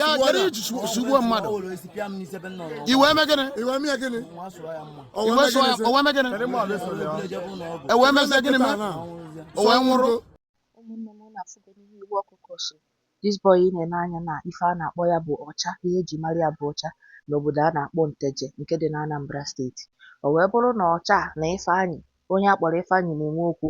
ya kere iji su- sugbuo mmadụ i wee mee gịnị i wee mee gịnị i wee sụọ ya o wee mee gịnị e wee mezie gịnị mee o wee nwụrụ ụmụnne m na afụgo n'ihe iwe ọkụ ọkụ so this boy ị na-ene anya na ife a na-akpọ ya bụ ọcha ihe eji mara ya bụ ọcha n'obodo a na-akpọ nteje nke dị na anambra steeti o wee bụrụ na ọcha na ifeanyị onye a kpọrọ Ifeanyị na-enwe okwu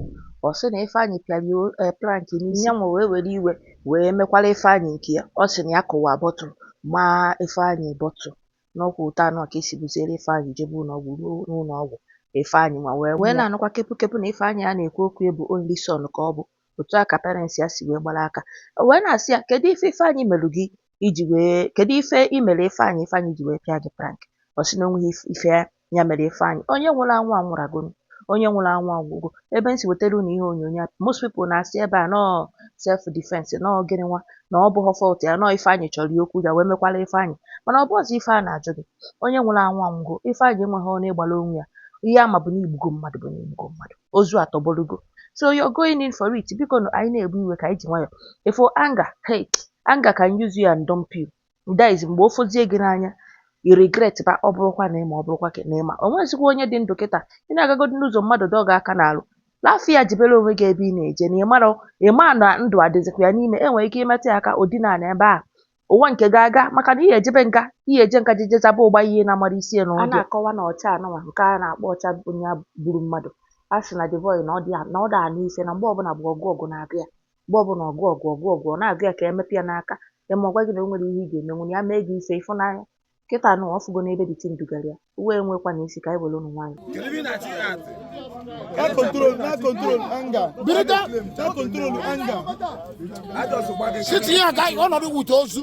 ọ sị na Ifeanyị pịara ya eh, plank n'isi ya nwa wee were iwe wee mekwara Ifeanyị nke ya ọ sị na ya kụwa bottle maa Ifeanyị bottle n'ọkwa otu anụ ka e si buziere Ifeanyị jebe ụlọọgwụ ruo n'ụlọọgwụ Ifeanyị anwụọ e wee na-anụkwa kepu kepu na Ifeanyị a na-ekwu okwu ya bụ only son ka ọ bụ otu a ka parents ya si wee gbara aka o wee na-asị ya kedu ife Ifeanyị merụ gị iji wee kedu ife i mere Ifeanyị Ifeanyị ji wee pịa gị plank ọ sị na o nweghị ife Ya mere Ifeanyị, onye nwụrụ anwụ anwụragonu, onye nwụrụ anwụ anwụgo. Ebe m si wetara unu ihe onyonyo a, most people na-asị ebe a nọọ self defense, nọọ gịnị nwa, na ọ bụghọ fault ya, nọọ Ifeanyị chọrọ ya okwu ya wee mekwara Ifeanyị. Mana ọ bụghọzi ife a na-ajụ gị. Onye nwụrụ anwụ anwụgo. Ifeanyị enweghị ọnụ ịgbara onwe ya. Ihe a ma bụ na i gbugo mmadụ bụ na i gbugo mmadụ. Ozu atọgbọrọgo. So you're going in for it. Biko nụ, anyị na-ebu iwe ka anyị ji nwayọ. Ị fụ anger, hey, anger can use you and dump you. that is mgbe o fozie gị n'anya i regret ba ọ bụrụkwa na ị ma ọ bụrụkwa ka na ị ma o nwezikwa onye dị ndụ kịta ị na-agagodi n'ụzọ mmadụ dọọ gị aka n'alụ laafụ ya jebere onwe gị ebe ị na-eje na ị mara ị ma na ndụ adịzikwa ya n'ime e nwere ike ịmetụ ya aka o dina na ebe a ụwa nke ga-aga maka na ihe ejebe nga ihe eje nga jeje zaba ụgba ihe na-amara isi ya na a na-akọwa na ọcha anụnwa nke a na-akpọ ọcha onye gburu mmadụ a sị na the boy na ọ dị na ọ da anụ ife na mgbe ọbụla bụ ọgụ ọgụ na-abịa mgbe ọbụla ọgụ ọgụ ọgụ ọgụ ọ na-agụ ya ka ya emetụ ya n'aka ya ma ọ gwa gị na o nwere ihe ị ga-emenwu na ya mee gị ife ị fụ n'anya kịta nụ ọ fụgo n'ebe this thing dugara ya iwe enwekwa na isi ka anyị werenụ nwayọ That control, that control anger. Birita, that control anger. Sitting here, guy, one of the with ozu.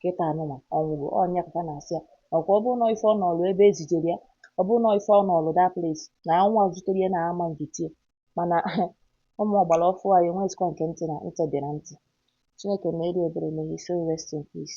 kịta anụnwa ọ nwụgo ọ nya ka fa na-asị ya ọkwa ọ bụrụ na ife ọ nọọlụ ebe e zijere ya ọ bụrụ na ife ọ nọọlụ that place na ọnwụ a zutere ya na ama njụtie mana ụmụ ọgbara ọfụụ anyị enweghịzikwa nke ntị na ntị dị na ntị Chineke meere ya ebere may his soul rest in peace